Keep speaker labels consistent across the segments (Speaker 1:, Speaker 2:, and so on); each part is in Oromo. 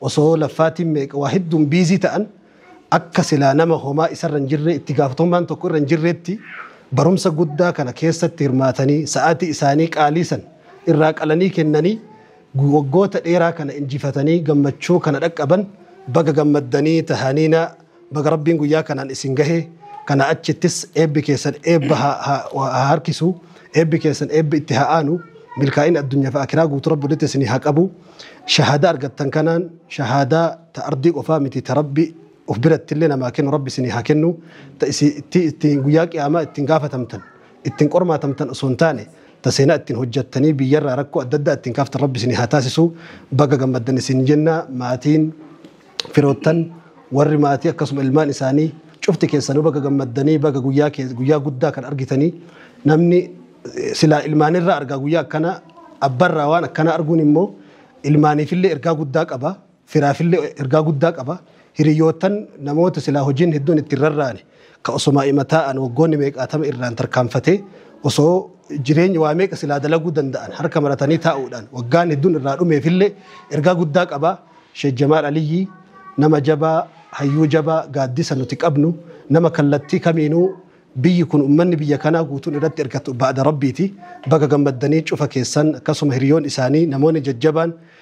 Speaker 1: Osoo laffaatiin meeqa waa hedduun biizii ta'an akka silaa nama homaa isarra hin jirree itti gaafatamummaan tokko irra hin jirreetti barumsa guddaa kana keessatti hirmaatanii sa'aatii isaanii qaalii san irraa qalanii kennanii waggoota dheeraa kana injifatanii gammachuu kana dhaqqaban baga gammaddanii tahaniinaa Baga Rabbiin guyyaa kanaan isin gahe, kanaa achittis eebbi keessan eebba haa harkisu, eebbi keessan eebbi itti haa aanu, milkaa'ina addunyaa fi aakiraa guutuu Rabbi walitti isinii haa qabu. Shahaadaa argattan kanaan shahaadaa ta ardii qofaa miti ta Rabbi of birattillee namaa kennu Rabbi isinii haa kennu, ta isin itti ittiin guyyaa qiyaamaa ittiin gaafatamtan, ittiin qormaatamtan osoo hin taane ta seenaa ittiin hojjattanii biyyarraa rakkoo adda addaa ittiin kaaftan Rabbi isinii haa taasisu. Baga gammaddan isin jenna maatiin firoottan, warri maatii akkasuma ilmaan isaanii cufti keessanuu baga gammaddanii baga guyyaa kee- guyyaa guddaa kan argitanii namni eh, silaa ilmaanirraa argaa guyyaa akkanaa abbarraa waan akkanaa arguun immoo ilmaaniifillee ergaa guddaa qaba firaafillee ergaa guddaa qaba hiriyoottan namoota silaa hojiin hedduun ittiin rarraane Ka osoma ima taa'an waggoonni meeqaatama irraan tarkaanfatee osoo jireenyi waa meeqa silaa dalaguu danda'an harka maratanii taa'uudhaan waggaan hedduun irraa dhumeefillee ergaa guddaa qaba. Sheek Jamaal Aliyyii nama jabaa, hayyuu jabaa, gaaddisa nuti qabnu, nama kallattii kamiinuu biyyi kun ummanni biyya kanaa guutuun irratti irkatu ba'da Rabbiiti. Baga gammaddanii cufa keessan akkasuma hiriyoon isaanii namoonni jajjabaan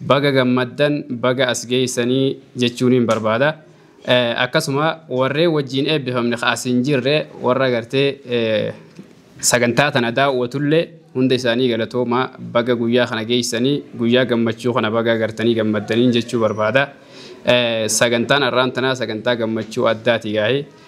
Speaker 2: Baga gammaddan baga as geessani jechuuniin barbaada. Akkasuma warreen wajjiin eebbifamne ka as hin jirre warra gartee sagantaa tana daawwatullee hunda isaanii galatoomaa baga guyyaa kana geessanii guyyaa gammachuu kana baga gartanii gammaddaniin jechuu barbaada. Sagantaan arraan tanaa sagantaa gammachuu addaati gaa'ee.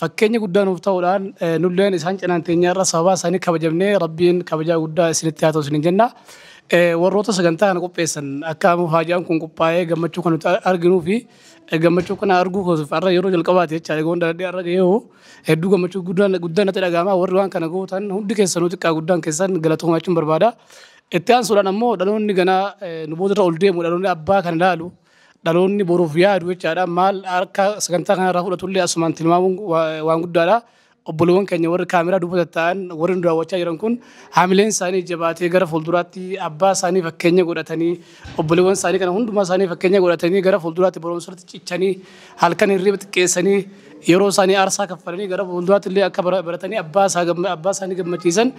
Speaker 3: Fakkeenya guddaa nuuf ta'uudhaan nulleen isaan cinaan teenyaarra sababaa isaanii kabajamnee Rabbiin kabajaa guddaa isinitti haa ta'u isiniin jenna. Warroota sagantaa kana qopheessan akka amma faajaan kun qophaa'ee gammachuu kan nuti arginuu fi gammachuu kana arguu koosuuf har'a yeroo jalqabaati jechaadha goon dhaladhee har'a ga'ee hoo hedduu gammachuu guddaan guddaan natti dhaga'ama warri waan kana gootan hundi keessanuu xiqqaa guddaan keessan galatoomaa jechuun barbaada. Itti aansuudhaan ammoo dhaloonni ganaa nu boodarra ol deemu dhaloonni abbaa kana ilaalu Dhaloonni boruuf yaadu jechaadha. Maal harka sagantaa kanarraa fudhatullee asumaan tilmaamuun waan guddaadha. Obboleewwan keenya warri kaameraa duuba taa'an warri nu daawwachaa jiran kun haamileen isaanii jabaatee gara fuulduraatti abbaa isaanii fakkeenya godhatanii obboleewwan isaanii kana hundumaa isaanii fakkeenya godhatanii gara fuulduraatti barumsarratti cichanii halkan hirriba xiqqeessanii yeroo isaanii aarsaa kaffalanii gara fuulduraatti illee akka baratanii abbaa isaanii gammachiisan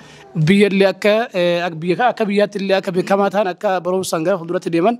Speaker 3: biyya illee akka biyyaatti illee akka beekamaa ta'an akka barumsaan gara fuulduraatti deeman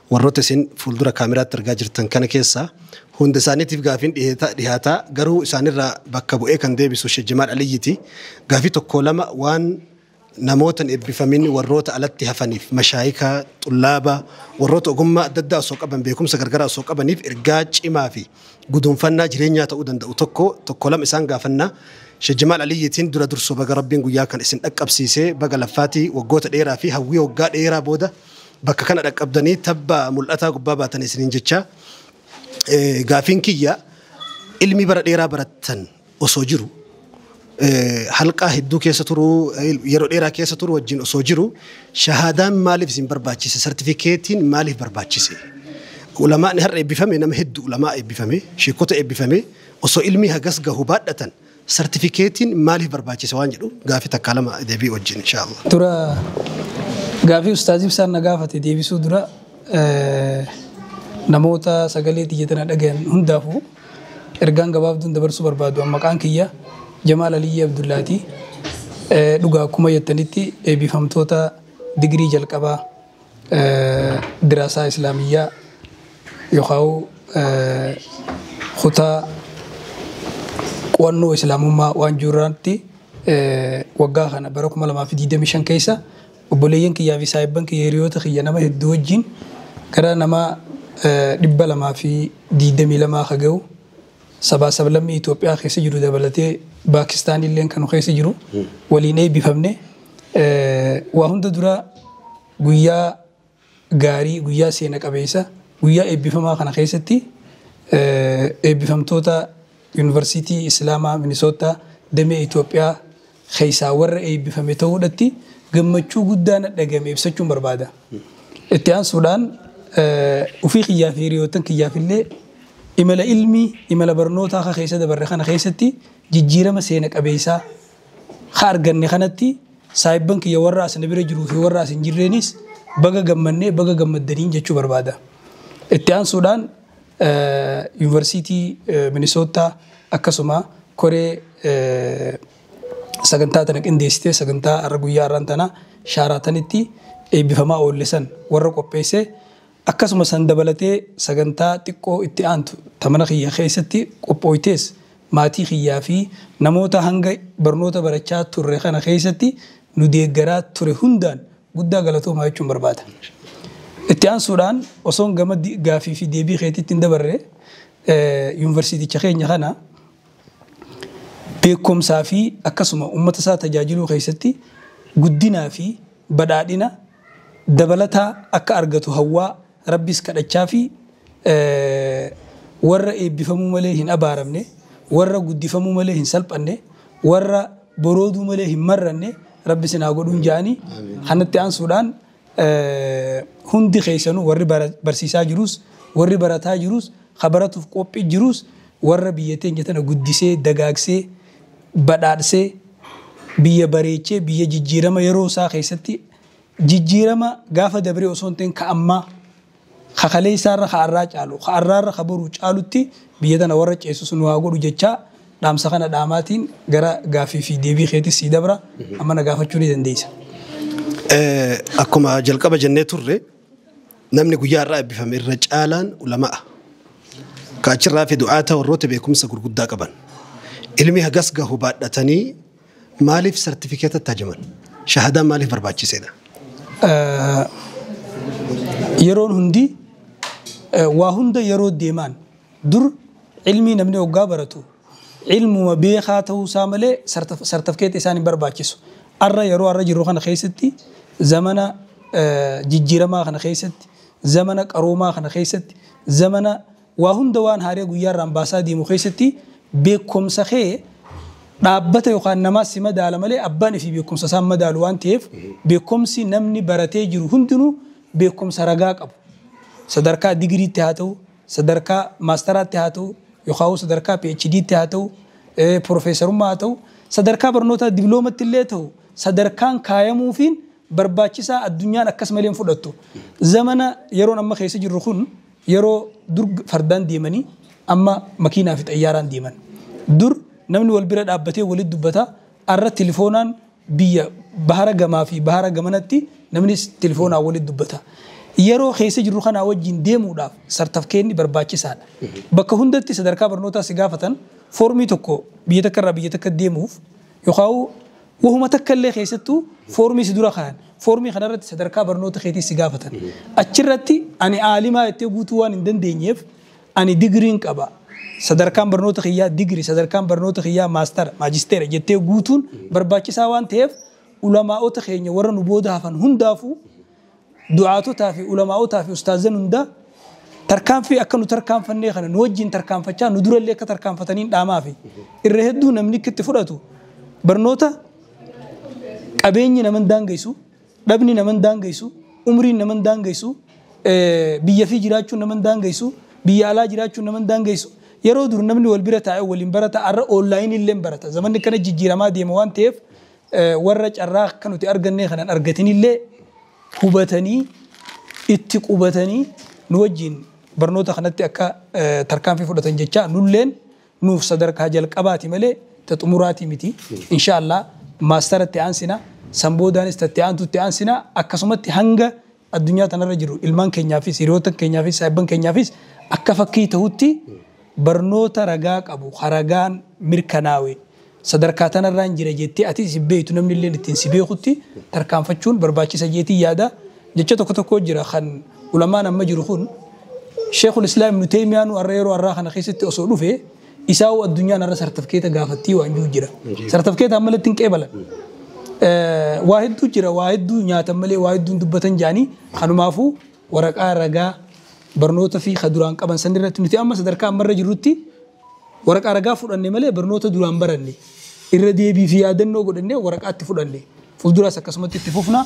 Speaker 1: Warroota isin fuuldura kaameraatti argaa jirtan kana keessaa hunda isaaniitiif gaafiin dhihaata, garuu isaanirraa bakka bu'ee kan deebisu Sheikh Jamaal Aliyyiti. Gaafii tokkoo lama waan namoota hin eebbifamin warroota alatti hafaniif, mashaayika, xullaaba, warroota ogummaa adda addaa osoo qaban, beekumsa gargaraa osoo qabaniif ergaa cimaa fi guduunfannaa jireenyaa ta'uu danda'u tokko, tokkoo lama isaan gaafanna. Sheikh Jamaal Aliyyitiin dura dursoo baga Rabbiin guyyaa kana isin dhaqqabsiisee, baga laffaati waggoota dheeraa fi hawwii waggaa dheeraa booda, Bakka kana dhaqqabdanii tabba mul'ataa gubbaa baatan isiniin jechaa, gaafiin kiyya ilmi bara dheeraa barattan osoo jiru, halqaa hedduu keessa turuu, yeroo dheeraa keessa turuu wajjin osoo jiru shahaadaan maaliif isin barbaachise, sartifikeetiin maaliif barbaachise? Ulamaa'ni har'a eebbifame nama heddu ulamaa'aa eebbifame, sheekkota eebbifame osoo ilmii hagas gahu baadhatan, Sartifikeetiin maaliif barbaachise waan jedhu gaaffii takkaa lama deebii wajjin inshaa Allah. Dura
Speaker 4: gaaffii Ustaaz Ibsaan na gaafate deebisuu dura namoota sagalee tiyya tana dhagayan hundaafuu ergaan gabaabduun dabarsuu barbaadu an maqaan kiyya Jamaal Aliyyii Abdullaati. Dhugaa akkuma jettanitti eebbifamtoota digirii jalqabaa Diraasaa Islaamiyyaa yookaan kutaa qo'annoo Islaamummaa waan jiru irratti waggaa kana bara 2025 keessa obboleeyyan kiyyaa fi saahibban kiyya hiriyoota kiyya nama hedduu wajjin gara nama 222 ka gahu Sabaa sablammii Itoophiyaa keessa jiru dabalatee Paakistaan illeen kan nu keessa jiru waliin eebbifamne. Waa hunda dura guyyaa gaarii, guyyaa seena qabeessa, guyyaa eebbifamaa kana keessatti eebbifamtoota Yuunivarsiitii Islaamaa Minisoottaa damee Itoophiyaa keessaa warra eebbifame ta'uudhatti gammachuu guddaa na dhagame ibsachuun barbaada. Itti aansuudhaan ufii kiyyaa fi hiriyoottan kiyyaaf illee imala ilmii, imala barnootaa ka keessa dabarre kana keessatti jijjiirama seena qabeessaa ka arganne kanatti saahibban kiyya warra as na bira jiruu fi warra as hin jirreenis baga gammannee baga gammaddaniin jechuu barbaada. Itti aansuudhaan Yuunivarsiitii Minisoottaa akkasuma koree sagantaa tana qindeessitee sagantaa har'a guyyaa har'aan tana shaaraatanitti eebbifamaa oolle san warra qopheesse akkasuma san dabalatee sagantaa xiqqoo itti aantu ta mana kiyya keessatti qophooytees maatii kiyyaa fi namoota hanga barnoota barachaa turre kana keessatti nu deeggaraa ture hundaan Guddaa galatoomaa jechuun barbaada. Itti aansuudhaan osoon gama gaaffii fi deebii keetiitti hin dabarre yuunivarsiiticha keenya kana beekumsaa fi akkasuma uummata isaa tajaajiluu keessatti guddinaa fi badhaadhina dabalataa akka argatu hawwaa Rabbis kadhachaa fi warra eebbifamuu malee hin abaaramne, warra guddifamuu malee hin salphanne, warra borooduu malee hin marranne Rabbi isin haa godhuun ja'anii kanatti aansuudhaan hundi keessanuu warri barsiisaa jiruus, warri barataa jiruus, ka baratuuf qophii jiruus warra biyya teenya tana guddisee, dagaagsee, badhaadhsee, biyya bareechee, biyya jijjiirama yeroo isaa keessatti Jijjiirama gaafa dabree osoo hin ta'in ka ammaa, ka kaleessaarra ka arraa caalu, ka arraarra ka boruu caalutti biyya tana warra ceesisu nu haa godhu jechaa dhaamsa kana dhaamaatiin gara gaaffii fi deebii keetis sii dabra. Amma na gaafachuu ni dandeessa. Akkuma
Speaker 1: jalqaba jennee turre namni guyyaa har'aa eebbifame irra caalaan ulama'a. Ka achirraa hafe du'aata warroota beekumsa gurguddaa qaban. Ilmi hagas gahu baadhatanii Maaliif sartifikeeta itti hajaman? Shahadaan maaliif barbaachiseedha? Yeroon hundi waa hunda yeroo deemaan dur ilmii namni oggaa baratu ilmuma beekaa ta'uu isaa malee sartifikeeta isaan hin barbaachisu. Arra yeroo arra jirru kana keessatti zamana jijjiiramaa kana keessatti zamana qaroomaa kana keessatti zamana Waa hunda waan haaree guyyaa irraan baasaa deemu keessatti beekkomsa kee dhaabbata yookaan namaa si madaala malee abbaan ifii beekkomsa isaa hin madaalu waan ta'eef beekkomsi namni baratee jiru hundinuu
Speaker 4: beekkomsa ragaa qabu sadarkaa digiriitti haa ta'u sadarkaa maastaraatti haa ta'u yookaan sadarkaa PHDtti haa ta'u piroofeesarummaa haa ta'u sadarkaa barnootaa dibloomatti illee ta'u sadarkaan kaayamuufiin barbaachisaa addunyaan akkas malee hin fudhattu zamana yeroon amma keessa jirru kun Yeroo dur fardaan deemanii amma makiinaa fi xayyaaraan deeman. Dur namni wal bira dhaabbatee walitti dubbata, arra tilifoonaan biyya bahara gamaa fi bahara gamanatti namni tilifoonaan walitti dubbata. Yeroo keessa jirru kanaa wajjin deemuudhaaf sartafkeenni barbaachisaadha. Bakka hundatti sadarkaa barnootaa si gaafatan foormii tokko biyya takka irraa biyya takkatti deemuuf yookaan Wahuma takka illee keessattuu foormii si dura kaayan. Foormii kana irratti sadarkaa barnoota keetii si gaafatan. Achi irratti ani aalimaa jettee guutuu waan hin dandeenyeef ani digriin qaba, sadarkaan barnoota kiyyaa digrii, sadarkaan barnoota kiyyaa maastara, maajisteera jettee guutuun barbaachisaa waan taheef ulamaa'ota keenya warra nu booda hafan hundaafuu, du'aatotaa fi ulamaa'otaa fi ustaazan hundaa tarkaanfii akka nu tarkaanfannee kana nu wajjin tarkaanfachaa nu durallee akka tarkaanfataniin dhaamaa fi irra hedduu namni itti fudhatu barnoota qabeenyi naman daangeysu dhabni naman daangeysu umriin naman daangeysu biyya fi jiraachuun naman daangeysu biyya alaa jiraachuun naman daangeysu yeroo dur namni wal bira taa'e waliin barata arra oonlaayinii illee barata zamanni kana jijjiiramaa deema waan ta'eef warra carraa akka nuti argannee kana hin argatinillee hubatanii itti qubatanii nu wajjiin barnoota kanatti akka tarkaanfii fudhatan jechaa nulleen nuuf sadarkaa jalqabaati malee ta xumuraatii miti. Inshaa Allah maastara itti aansina, san boodaanis ta itti aantu itti aansina akkasumatti hanga addunyaa tanarra jiru ilmaan keenyaafis, hiriyootan keenyaafis, saahibban keenyaafis akka fakkii tahutti barnoota ragaa qabu ka ragaan mirkanaawe sadarkaa tanarraan jira jettee atis isin beeytu namnilleen ittiin si beekutti tarkaanfachuun barbaachisa jeetiin yaada. Jecha tokko tokko jira kan ulamaan amma jiru kun Sheekhul Islaam Ibnu Teeymiyaanuu har'a yeroo har'aa kana keessatti osoo dhufe Isaa hoo addunyaan har'a sartifkeeta gaafattii waan jiru jira. Sartifkeeta amma ilatti hin qeebalan. Waa hedduu jira waa hedduu nyaatan malee waa hedduu hin dubbatan jaanii kanumaafuu waraqaa ragaa barnoota fi ka duraan qaban san irratti nuti amma sadarkaa ammarra jirrutti waraqaa ragaa fudhanne malee barnoota duraan baranne irra deebii fi yaadannoo godhanne waraqaatti fudhanne fuulduraas akkasumatti itti fufna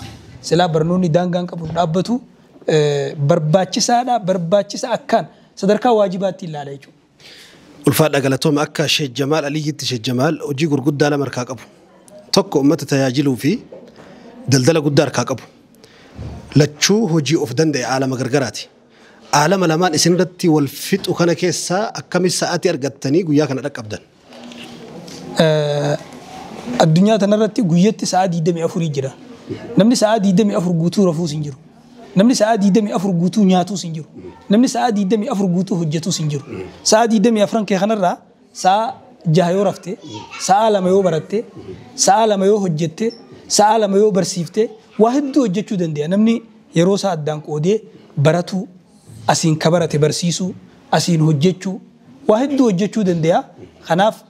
Speaker 4: silaa barnoonni daangaan qabu dhaabbatu barbaachisaadha barbaachisa akkaan sadarkaa waajibaatti ilaala jechuudha. Ulfaadhaa
Speaker 1: galatooma akka Sheek Jamaal Aliyyitti Sheek Jamaal hojii gurguddaa lama harkaa qabu. Tokko ummata tajaajiluu fi daldala guddaa harkaa qabu. Lachuu hojii of danda'e aalama gargaraati. Aalama lamaan isin irratti wal fixu kana keessaa akkami sa'atii argattanii guyyaa kana dhaqqabdan?
Speaker 4: Addunyaa tana irratti guyyatti sa'aa 24 jira. Namni sa'aa 24 guutuu rafuus hin jiru. Namni sa'aa 24 guutuu nyaatuus hin jiru. Namni sa'aa 24 guutuu hojjetuus hin jiru. Sa'aa 24 kee kanarraa sa'aa jaha yoo rafte, sa'aa lama yoo baratte, sa'aa lama yoo hojjette, sa'aa lama yoo barsiifte waa hedduu hojjechuu dandeenya. Namni yeroo isaa addaan qoodee baratuu, asiin ka barate barsiisuu, asiin hojjechuu, Waa hedduu hojjachuu dandeeya. Kanaaf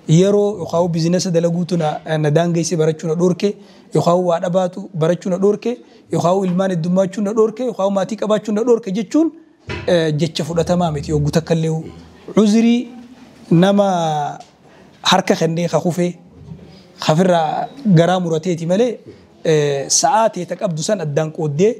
Speaker 4: yeroo yookaan bizinasa dalaguutu na daangesse barachuu na dhoorke yookaan waa dhabaatu barachuu na dhoorke yookaan ilmaan heddummaachuun na dhoorke yookaan maatii qabaachuun na dhoorke jechuun jecha fudhatamaa miti yoggu takkallee uzrii nama harka kennee ka kufee kafirraa garaa murateeti malee sa'aa tee ta qabdu san addaan qooddee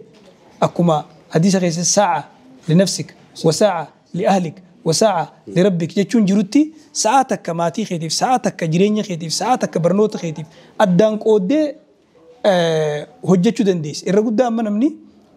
Speaker 4: Akkuma hadiisa keessatti saa'a li nafsik wa saa'a li ahlik wa saa'a li rabbik jechuun jirutti sa'aa takka maatii keetiif, sa'aa takka jireenya keetiif, sa'aa takka barnoota keetiif addaan qooddee hojjachuu dandeessa. Irra guddaa amma namni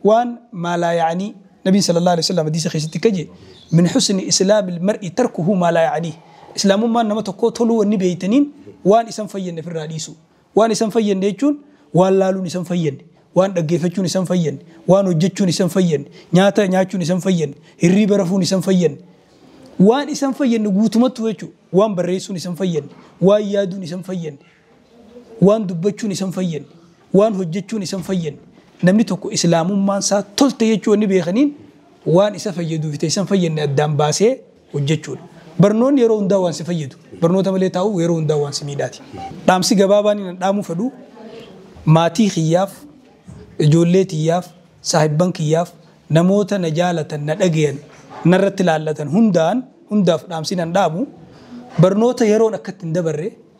Speaker 4: waan maa laa ya'anii Nabiin sallallahu aleyhi wa sallam hadiisa keessatti akka jee min husni islaamil mar'i tarkuhu maa laa ya'anii Islaamummaan nama tokkoo toluu wanni beeytaniin waan isan fayyadne firraa dhiisuu. Waan isan fayyanne jechuun waan laaluun isan fayyanne, waan dhaggeeffachuun isan fayyanne, waan hojjechuun isan fayyanne, nyaata nyaachuun isan fayyanne, hirriiba rafuun isan fayyanne, waan isan fayyanne guutumattuu jechuu, waan barreessuun isan fayyanne, waan yaaduun isan fayyanne, waan dubbachuun isan fayyanne, waan hojjechuun isan fayyanne, namni tokko Islaamummaan isaa tolte jechuu wanni beekaniin waan isa fayyaduufi ta isan fayyanne addaan baasee hojjechuudha. Barnoonni yeroo hundaa waan si fayyadu, barnoota malee taa'uu yeroo hundaa waan si miidhaati. Dhaamsi gabaabaan inni dhaamuu fedhu maatii kiyyaaf, ijoollee tiyyaaf, saahibban kiyyaaf, namoota na jaalatan, na dhagayan, narratti laallatan hundaan hundaaf dhaamsi inni dhaamu barnoota yeroon akka itti hin dabarre,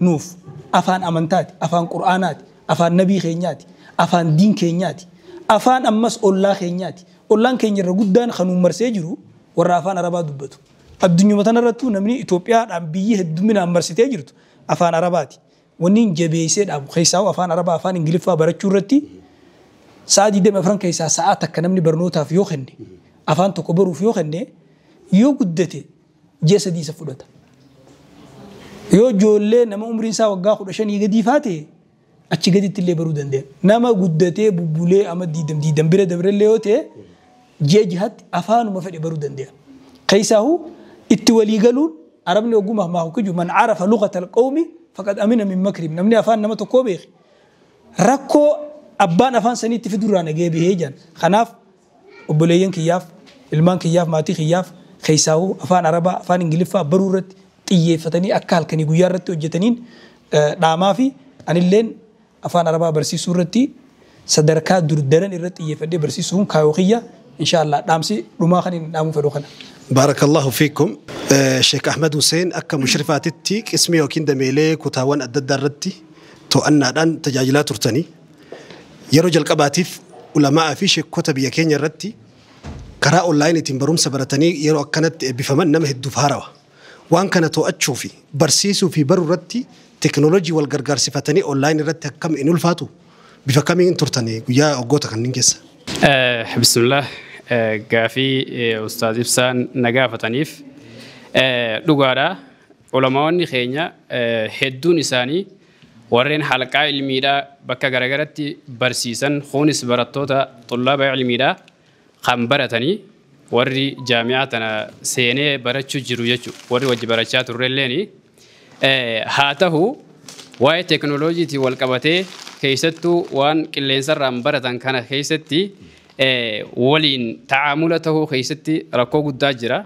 Speaker 4: Nuuf afaan amantaati, afaan qur'aanaati, afaan nabii keenyaati, afaan diin keenyaati, afaan ammas ollaa keenyaati. Ollaan keenya irra guddaan kan nu marsee jiru warra afaan arabaa dubbatu. Addunyuma tanarrattuu namni Itoophiyaadhaan biyyi hedduminaan marsitee jirtu afaan arabaati. Wanniin jabeessee dhaabu keessaahuu afaan arabaa afaan ingiliffaa barachuu irratti sa'aa 24 keessaa sa'aa takka namni barnootaaf yoo kenne, afaan tokko baruuf yoo kenne yoo guddate ji'a sadii isa fudhata. Yoo ijoollee nama umriin isaa waggaa kudha shanii gadii faate achi gaditti illee baruu dandeenya. Nama guddatee bubbulee amma diidam diidam bira dabre illee yoo ta'e ji'a jahatti afaanuma fedhe baruu dandeenya. Keessaahu itti walii galuun arabni ogummaa maahu kiju man arafa lugata alqawmi faqad amina min makrim namni afaan nama tokkoo beeke rakkoo abbaan afaan saniitti fidurraa nagee bahee jedhan. Kanaaf Obboleeyyan kiyyaaf, ilmaan kiyyaaf, maatii kiyyaaf keessaahuu afaan Arabaa, afaan Ingiliffaa baruu irratti xiyyeeffatanii akka halkanii guyyaa irratti hojjetaniin dhaamaafi anilleen afaan Arabaa barsiisuu irratti sadarkaa dur daran irra xiyyeeffadhee barsiisuun kaayoo kiyya inshaa Allaah dhaamsi dhumaa kan inni dhaamuu fedhu kana. Baarakallaahu
Speaker 1: fiikum. Sheikh Ahmed Hussein akka mushrifaatitti qismii yookiin dameelee kutaawwan adda addaa irratti to'annaadhaan tajaajilaa turtanii. Yeroo jalqabaatiif Ulama'aa fi Sheekkota biyya keenya irratti karaa onlaayiniitiin barumsa baratanii yeroo akkanatti eebbifaman nama hedduuf haarawa. Waan kana to'achuu fi barsiisuu fi baruu irratti teeknooloojii wal gargaarsifatanii onlaayinii irratti akkam hin ulfaatu? Bifa kamiin turtan guyyaa waggoota kanneen keessa?
Speaker 2: Bismillah. Gaafii Ustaaz Ibsaan na gaafataniif dhugaadha. Ulamaa'onni keenya hedduun isaanii warreen halqaa ilmiidhaa bakka garagaratti barsiisan kuunis barattoota xullaaba ilmiidhaa kan baratanii warri jaami'aa tana seenee barachuu jiru jechu warri wajji barachaa turrelleen haa tahu waa'ee teknoloojiitiin wal qabatee keessattuu waan qilleensarraan baratan kana keessatti waliin ta'aamula tahuu keessatti rakkoo guddaa jira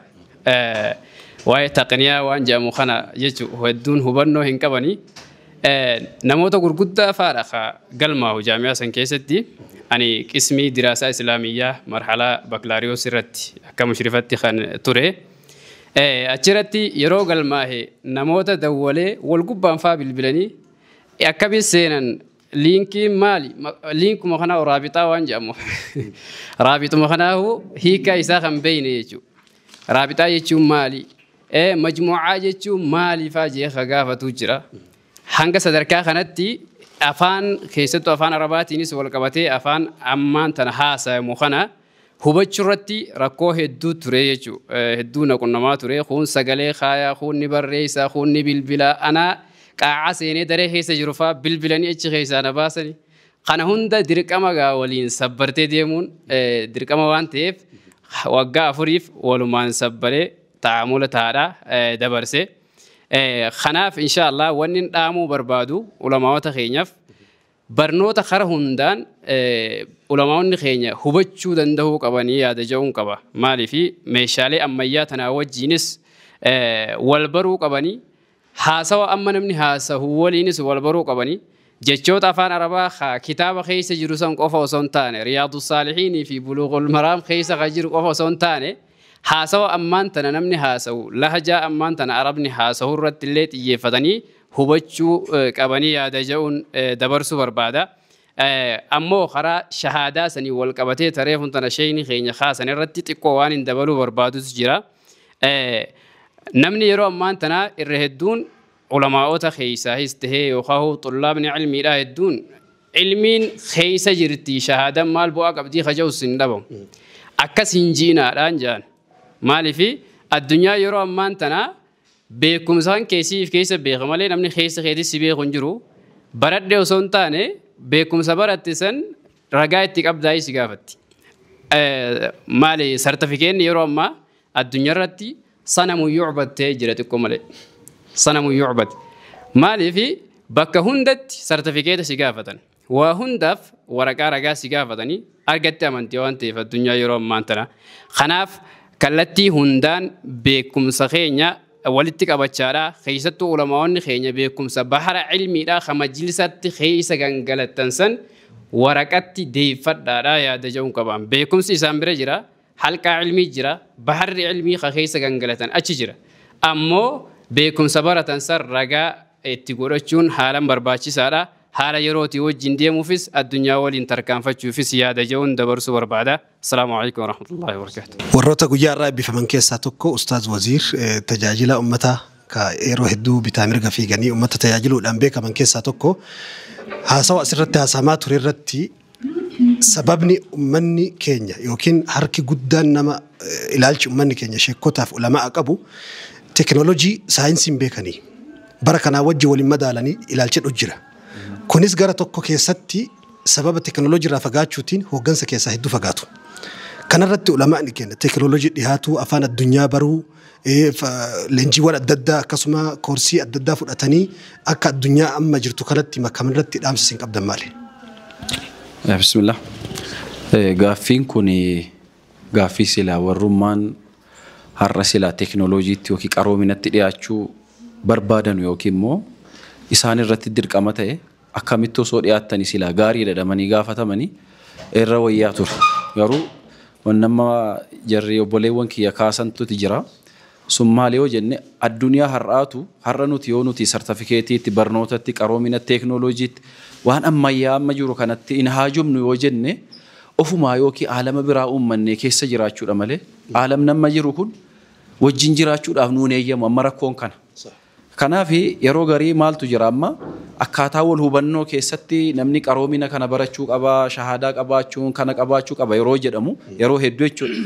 Speaker 2: Waa'ee taqniyaa waan jedhamu kana jechuun hedduun hubannoo hin qabani. Namoota gurguddaa fa'aadha ka galmaa'u jaamiyaa san keessatti. Ani qismii diraasaa islaamiyyaa marhalaa bakilaariyoos irratti akka mushrifatti kan ture. Achirratti yeroo galmaahe namoota dawwalee wal gubbaan fa'aa bilbilanii akkamiin seenan Liinkiin maali? Liinkuma kanaa hoo raabixaa waan jedhamu. Raabixuma kanaa hoo hiikaa isaa kan beeyne jechuudha. Raabixaa jechuun maali? Ee majmuucaa jechuun maaliifaa jee ka gaafatuu jira. Hanga sadarkaa kanatti afaan keessattuu afaan arabaatiinis wal qabatee afaan ammaan tana haasayamu kana Hubachuu irratti rakkoo hedduu ture jechuu hedduu na qunnamaa ture kuun sagalee kaayaa kuun ni barreessa kuun ni bilbila anaa qaacaa seenee daree keessa jiru faa bilbilanii achi keessaa na baasani kana hunda dirqama gaa waliin sabbartee deemuun dirqama waan ta'eef waggaa afuriif walumaan sabbaree taa'amula taa'adha dabarse kanaaf insha Allah wanni dhaamuu barbaadu ulamaawota keenyaaf Barnoota kara hundaan ulamaa'onni keenya hubachuu dandahuu qabanii yaada ja'uun qaba. Maaliifi meeshaalee ammayyaa tanaa wajjiinis wal baruu qabanii haasawa amma namni haasahu waliinis wal baruu qabanii jechoota afaan arabaa ka kitaaba keessa jiru san qofa osoo hin taane riyaadu saalihiinii fi buluuqul maraam keessa ka jiru qofa osoo hin taane Haasawa ammaan tana namni haasawu, lahjaa ammaan tana Arabni haasawu irratti illee xiyyeeffatanii hubachuu qabanii yaada ja'uun dabarsuu barbaada. Ammoo karaa shahaadaa saniin wal qabatee ta reefun tana sheeyni keenya kaasan irratti xiqqoo waanin dabaluu barbaadutu jira. Namni yeroo ammaan tanaa irra hedduun Ulamaa'ota keessaahis tahee yookaan xullaabni cilmiidhaa hedduun cilmiin keessa jirti shahaadan maal bu'aa qabdii kaja'us hin dhabamu. Akkas hin jiinaadhaan jaan. Maaliif addunyaa yeroo ammaan tana beekumsaan keessiif keessa beeka malee namni keessa keetis si beeku hin jiru. Baradhe osoo hin taane beekumsa baratte san ragaa itti qabdaayii si gaafatti. Maali sartifikeenni yeroo ammaa Addunyarratti sanamu yu'bad ta'ee jira xiqqoo malee. Sanamu yu'bad. Maaliif bakka hundatti sartifikeeta si gaafatan. Waa hundaaf waraqaa ragaa si gaafatanii argatte amantii waan ta'eef addunyaa yeroo ammaan tana. Kanaaf kallattii hundaan beekumsa keenya walitti qabachaadha. Keessattuu ulamaa'onni keenya beekumsa bahara ilmiidha ka majlisatti keessa gangalattan san waraqatti deeffadhaadha yaada ja'uun qabaan. Beekumsi isaan bira jira. Halqaa ilmii jira, baharri ilmii ka keessa gangalatan achi jira. Ammoo beekumsa baratan san ragaa itti godhachuun haalan barbaachisaadha. Haala yerootii wajjiin deemuufis addunyaa waliin tarkaanfachuufis yaada je'uun dabarsuu barbaada. Assalaamu aleykum warahmatullaahi wabarakaatuh. Warroota guyyaa har'aa
Speaker 1: eebbifaman keessaa tokko Ustaaz Waziir tajaajila ummataa ka yeroo hedduu bitaa mirga fiiganii ummata tajaajiluudhaan beekaman keessaa tokko. Haasawa asirratti haasahamaa ture irratti Sababni ummanni keenya ykn harki guddaan nama ilaalchi ummanni keenya sheekkotaa fi ulama'a qabu teknolojii saayinsiin beekanii bara kanaa wajji wal hin madaalanii ilaalcha jedhu jira. Kunis gara tokko keessatti sababa teknolojii irraa fagaachuutiin hooggansa keessaa hedduu fagaatu. Kanarratti ulama'ni keenya teknolojii dhihaatuu, afaan addunyaa baruu, Leenjiiwwan adda addaa akkasuma koorsii adda addaa fudhatanii akka addunyaa amma jirtu kanatti makaman irratti dhaamsa isin qabdan maali?
Speaker 5: Bismillah. Gaaffiin kun gaaffii silaa warrummaan har'a silaa teekinooloojiitti yookiin qaroominatti dhiyaachuu barbaadanu yookiin immoo isaan irratti dirqama ta'e akkamitti osoo dhiyaattani silaa gaariidha jedhamanii gaafatamani irra wayyaa ture. Garuu wanni amma jarri obboleewwan kiyya kaasantuti jira. Sun maali yoo jenne addunyaa har'aatu har'a nuti yoo nuti sartifikeetiitti, barnootatti, qaroomina teeknooloojiitti waan ammayyaa amma jiru kanatti hin haajomnu yoo jenne ofumaa yookiin aalama biraa uummannee keessa jiraachuudha malee aalamni amma jiru kun wajjin jiraachuudhaaf nuun eeyyamu amma rakkoon kana. Kanaaf yeroo garii maaltu jira amma akkaataa wal hubannoo keessatti namni qaroomina kana barachuu qaba, shahaadaa qabaachuun kana qabaachuu qaba yeroo jedhamu yeroo heddu jechuudha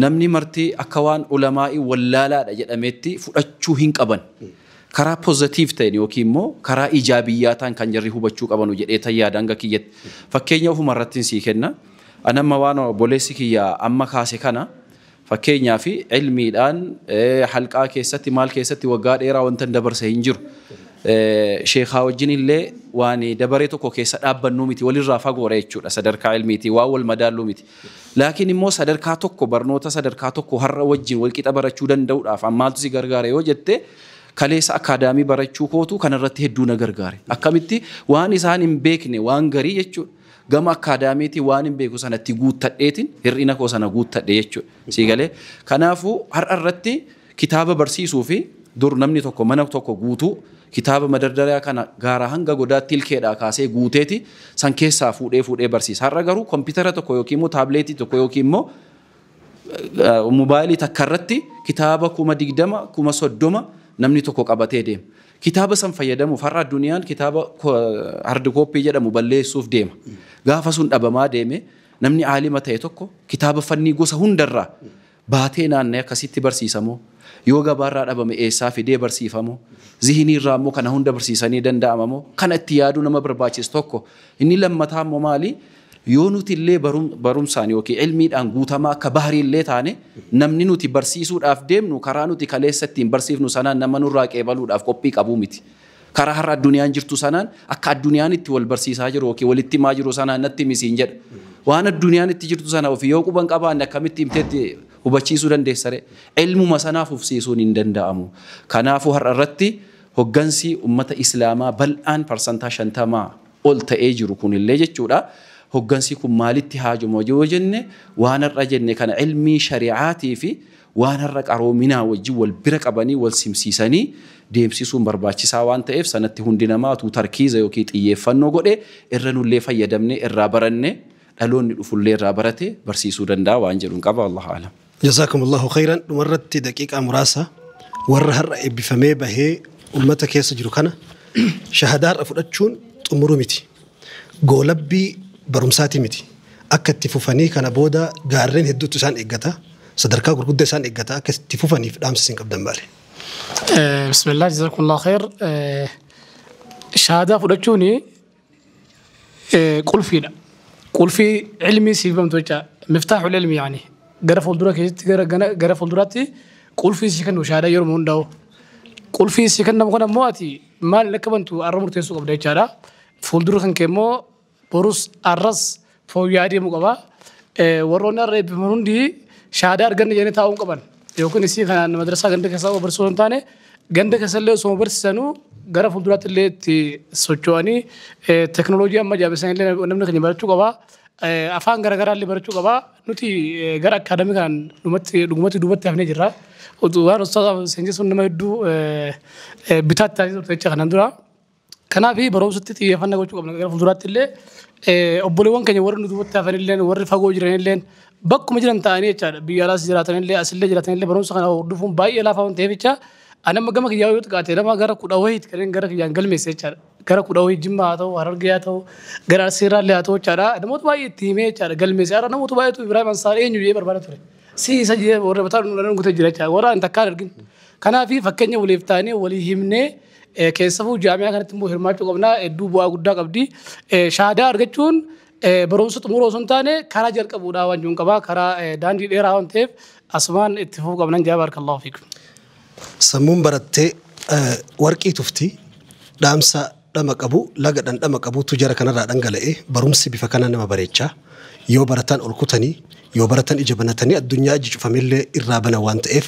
Speaker 5: namni marti akka waan ulamaa'i wallaalaadha jedhameetti fudhachuu hin qaban. Karaa positive ta'en yookiin immoo karaa ijaabiyyaa ta'an kan jarri hubachuu qabanu jedheetan yaada hanga kiyyatti. Fakkeenya ofuma irrattin sii kenna. Ani amma waan obboleessi kiyya amma kaase kana Fakkeenyaaf, ilmiidhaan, halqaa keessatti, maal keessatti waggaa dheeraa wantan dabarse hin jiru. Sheekhaa wajjin illee waan dabaree tokko keessa dhaabbannuu miti, walirraa fagoodha jechuudha sadarkaa ilmiitiin, waan wal madaalluu miti. Laakiin immoo sadarkaa tokko, barnoota sadarkaa tokko har'a wajjin wal qixa barachuu danda'uudhaaf maaltu si gargaare yoo jette, kaleessa akkaadaamii barachuu kootu kanarratti hedduu na gargaare. Akkamitti? Waan isaan hin beekne, waan garii jechuudha. Gama akkaadaamiitiin waanin beeku sana itti guuttadheetiin hir'ina koo sana guuttadhe jechuudha. Sii galee? Kanaafuu har'a irratti kitaaba barsiisuu fi dur namni tokko mana tokko guutuu kitaaba madardariyaa kana gaaraa hanga godaatti ilkeedhaa kaasee guuteeti san keessaa fuudhee fuudhee barsiisa. Har'a garuu kompiitara tokko yookiin immoo taableetii tokko yookiin immoo mobaayilii takka irratti kitaaba kuma digdama kuma soddoma namni tokko qabatee deema. Kitaaba san fayyadamuuf har'a addunyaan kitaaba hard copy jedhamu balleessuuf deema. Gaafa sun dhabamaa deeme namni aalima ta'e tokko kitaaba fannii gosa hundarraa baatee naanna'ee akkasitti barsiisamoo yoo gabaarraa dhabame eessaa fidee barsiifamoo zihinii irraa immoo kana hunda barsiisanii danda'amamoo kana itti yaaduu nama barbaachisu tokko inni lammataa immoo maali Yoo nuti illee barumsaan ykn ilmiidhaan guutamaa akka Bahrii illee taane, namni nuti barsiisuudhaaf deemnu karaa nuti kaleessa ittiin barsiifnu sanaan nama nurraa qeebaluudhaaf qophii qabu miti. Karaa har'a addunyaan jirtu sanaan akka addunyaan itti wal barsiisaa jiru ykn walitti himaa jiru sanaan natti himi siin jedha. Waan addunyaan itti jirtu sana ofii yoo quba hin qabaanne akkamitti himtee itti hubachiisuu dandeessa ree? Ilmuma sanaa fufsiisuun hin danda'amu. Kanaafuu har'a irratti hoggansi ummata Islaamaa bal'aan parsantaa 50 ol ta'ee jiru kun illee jechuudha. Hoggansi kun maalitti haajoma yoo jenne waan har'a jenne kana ilmii shari'aatii fi waan har'a qaroominaa wajjin wal bira qabanii wal simsiisanii deemsisuun barbaachisaa waan ta'eef sanatti hundi namaa utuu tarkiiza yookiin xiyyeeffannoo godhe irra nullee fayyadamnee irraa barannee dhaloonni dhufullee irraa baratee barsiisuu danda'a waan jedhun qaba. Wallaahu a'lam. Jazaakum Allahu khayran
Speaker 1: dhumarratti daqiiqaa muraasa warra har'a eebbifamee bahee ummata keessa jiru kana shahadaa har'a fudhachuun xumuru miti. Goolabbii barumsaati miti. Akka itti fufanii kana booda gaarreen hedduutu isaan eeggata. Sadarkaa gurguddaa isaan eeggata. Akka itti fufaniif dhaamsa isin qabdan maali? Eh,
Speaker 3: Bismillah, jazakumullah khair. Eh, Shahaadaa fudhachuun Eh, qulfiidha. Qulfii ilmii siif bamtu jecha miftaaxul ilmi yaani gara fuuldura keessatti gara gana- gara fuulduraatti qulfii si kennu shaada yeroo hundaa'u. Qulfii si kennamu kana immoo ati maal akka bantu arra murteessuu qabda jechaadha. Fuuldura kan kee immoo borus arras fooyya'aa deemuu qaba. Warroonni har'a eebbifaman hundi shahaadaa arganne jedhanii taa'uu hin qaban. Yookiin isii kanaan madrasaa ganda keessaa qofa barsiisuu hin taane ganda keessallee osoo barsiisanuu gara fuulduraatti illee itti socho'anii teknooloojii amma jaabessan illee namni keenya barachuu qaba. Afaan garaagaraa illee barachuu qaba. Nuti gara akaadamii kanaan dhumatti dhugumatti duubatti hafnee jirra. Waan ustaazaaf seenjisuun nama hedduu bitaatti taasisuu turte jecha kanaan dura. Kanaaf barumsatti xiyyeeffannaa gochuu qabna. Gara fuulduraatti illee obboleewwan keenya warri nu duubatti hafan illee warri fagoo jiran illee bakkuma jiran ta'anii jechaadha. Biyya alaas jiraatan illee asillee jiraatan illee barumsa kana hordofuun baay'ee laafaa waan ta'eef jecha ani amma gama kiyyaa yoo xiqqaate nama gara kudha wayiiti kanneen gara kiyyaan galmeesse jechaadha. Gara kudha wayii jimmaa haa ta'u harargee haa ta'u gara arsiirraa illee haa ta'u jechaadha. Namoota baay'ee itti himee jechaadha galmeesse. Har'a namoota baay'eetu Ibrahim Ansaar eenyu jedhee barbaada ture. Si isa jedhee warra bataa nu gutee jira jechaadha. Warra ani takkaan argin. Kanaaf fakkeenya waliif taanee walii himnee Keessafuu jaamiyaa kanatti immoo hirmaachuu qabna hedduu bu'aa guddaa qabdi. Shaadaa argachuun barumsa xumuruu osoo hin taane karaa jalqabuudha waan jiruun qaba karaa daandii dheeraa waan ta'eef asumaan itti fufuu qabnan jaa baarakallahu fiikum. Sammuun
Speaker 1: barattee warqii tufti dhaamsa dhama qabu laga dhandhama qabuutu jara kanarraa dhangala'e barumsi bifa kana nama bareecha yoo barataan ol kutanii yoo baratan ija banatanii addunyaa iji cufamellee irraa bana waan ta'eef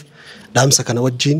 Speaker 1: dhaamsa kana wajjiin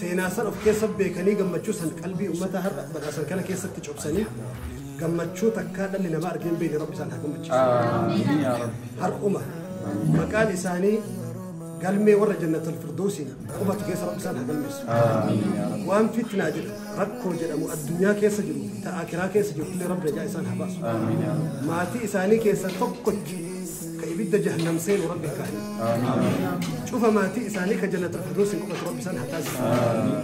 Speaker 1: Seenaa san of keessa beekanii gammachuu san qalbii ummata har'a badhaasan kana keessatti cobsanii gammachuu takkaa dhalli namaa argee hin beekne rabbi isaan haa gammachiisu. Har'uma maqaan isaanii galmee warra jannatul firdoosiin qubatu keessa rabbi isaan haa galmeessu. Waan fitnaa jedhu rakkoo jedhamu addunyaa keessa jiru ta'aa kiraa keessa jiru illee rabbi najaa isaan haa baasu. Maatii isaanii keessa tokkotti ka ibidda jahannam seenu rabbi kaa'e cufa maatii isaanii ka jannatul firdoosin qubatu rabbi isaan haa taasisu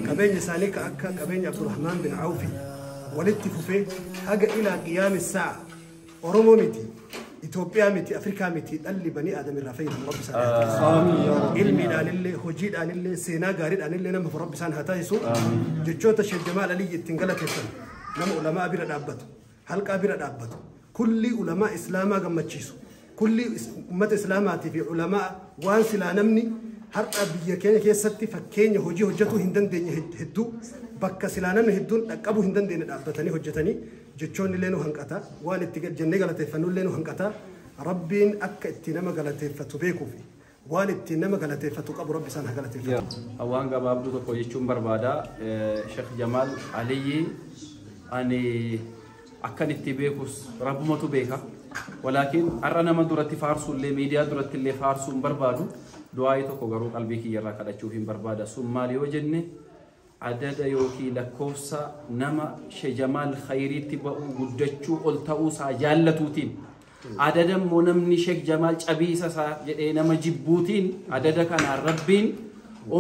Speaker 1: qabeenya isaanii ka akka qabeenya abdurahmaan bin awfi walitti fufee haga ilaa qiyaami saa oromoo miti Itoophiyaa miti Afrikaa miti dhalli banii aadam irraa fayyadamu rabbi isaan haa taasisu ilmiidhaan illee hojiidhaan illee seenaa gaariidhaan illee nama rabbi isaan haa taasisu jechoota sheejjamaa aliyyi ittiin galateessan nama ulamaa bira dhaabbatu halqaa bira dhaabbatu, kullii ulamaa Islaamaa gammachiisu, kullii ummata Islaamaatii fi ulamaa waan silaa namni har'a biyya keenya keessatti fakkeenya hojii hojjetuu hin dandeenye hedduu bakka silaa namni hedduun dhaqqabuu hin dandeenye dhaabbatanii hojjetanii jechoonni illee nu hanqata waan itti jennee galateeffannu illee nu hanqata rabbiin akka itti nama galateeffatu beekuufi Waan ittiin nama galateeffatu qabu Rabbi isaan haa galateeffatu. Yaa waan gabaabduu
Speaker 5: tokko jechuun barbaada Sheikh Jamaal Aliyyi ani akkan itti beekus rabbumatu beeka walaakin har'a nama duratti faarsuullee miidiyaa duratti illee faarsuun barbaadu du'aa'ii tokko garuu qalbii kiyyarraa kadhachuuf hin barbaada sun maal yoo jenne Adada ykn lakkoofsa nama shejamaal khayriitti ba'uu guddachuu ol ta'uu isaa jaallatuutiin adada immoo namni shek jamaal cabiisa isaa jedhee nama jibbuutiin adada kanaan rabbiin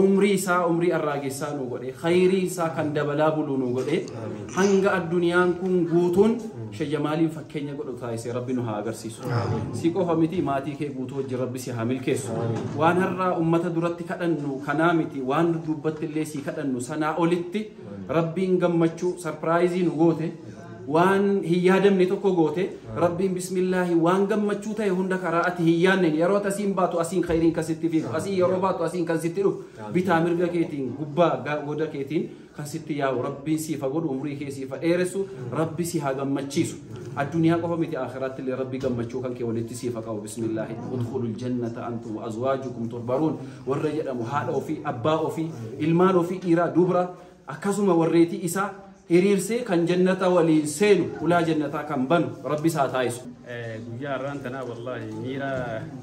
Speaker 5: umrii isaa umrii arraagessaa nuu godhe khayrii isaa kan dabalaa buluu nuu godhe hanga addunyaan kun guutuun Sheikh Jamaaliin fakkeenya godhu taasise rabbi nu haa agarsiisu. Si qofa miti maatii kee guutuu wajjin rabbi si haa milkeessu. Waan har'aa ummata duratti kadhannu kanaa miti waan dudduubbatti illee si kadhannu sanaa olitti rabbiin gammachuu sarpiraayizii nu goote waan hin yaadamne tokko goote rabbiin bismillaahi waan gammachuu ta'e hunda karaa ati hin yaadne yeroo ati asiin baatu asiin khayriin kan sitti fiigu asiin yeroo baatu asiin kan sitti dhufu bitaa mirga keetiin gubbaa ga- goda keetiin kan sitti yaa'u rabbiin siif haa godhu umrii kee siif haa dheeressu rabbi si haa gammachiisu addunyaa qofa miti akhiraatti illee rabbi gammachuu kan kee walitti siif haa qabu bismillaahi udkhulul jannata antum wa azwaajukum turbaruun warra jedhamu haadha ofii abbaa ofii ilmaan ofii dhiiraa dubra akkasuma warreetii isaa hiriirsee kan jannata waliin seenu ulaa jannataa kan banu rabbi isaa taayisu guyyaa har'aan
Speaker 2: tanaa wallaahi miira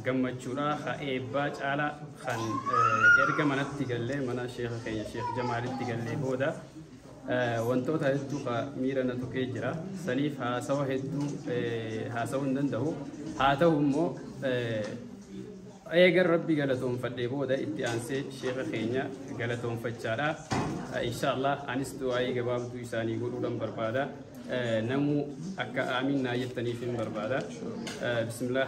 Speaker 2: gammachuudhaa haa eebbaa caalaa kan erga manatti gallee mana sheekha keenya sheekh jamaalitti gallee booda wantoota hedduu ka miira na tuqee jira saniif haasawa hedduu haasawuu hin danda'u haa ta'u immoo eegan rabbi galatoonfadhee booda itti aansee sheekha keenya galatoonfachaadha inshaallah anis du'aa'ii gabaabduu isaanii godhuudhan barbaada namuu akka aamiin naa jettaniif hin barbaada bismillah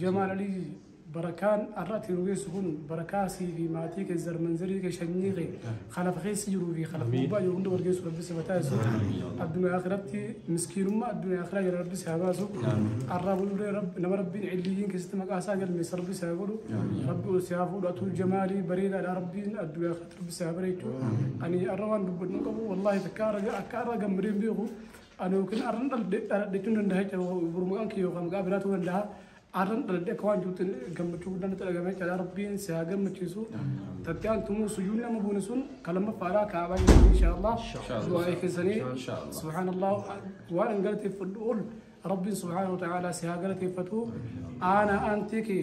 Speaker 3: Jamaal Aliyyi barakaan har'a ati nu geessu kun barakaa sii fi maatii kee zarmanzarii kee shanyii kee kalafa keessa jiruu fi kalafa gubbaa jiru hunda wargeessu rabbi si bataa isu addunyaa akhiratti miskiinummaa addunyaa akhiraa jala rabbi si haa baasu har'aa buluree nama rabbiin illiyyiin keessatti maqaa isaa galmeessa rabbi si haa godhu rabbi ol si haa fuudhu atuu jamaalii bareedaadha rabbiin addunyaa akhiratti rabbi si haa bareechu ani har'a waan dubbadhu qabu wallaahi takka akka har'a gammadeen beeku Ani yookiin arran dhaladhe dhaladhe jechuun danda'a jecha bor maqaan kiyya yookaan maqaa biraa ta'uu danda'a. Arran dhaladhe akka waan jirutti gammachuu guddaan natti dhagahame jechaadha. Rabbiin si haa gammachiisu. Tatti aantumuu sujuudni amma buune sun kan lammaffaadha kaabaa jechuun inshaallah. Du'aa keessanii subhaanallah waan hin galateeffadhu ol rabbiin subhaanahu wa ta'aalaa si haa galateeffatu. Aanaa aantee kee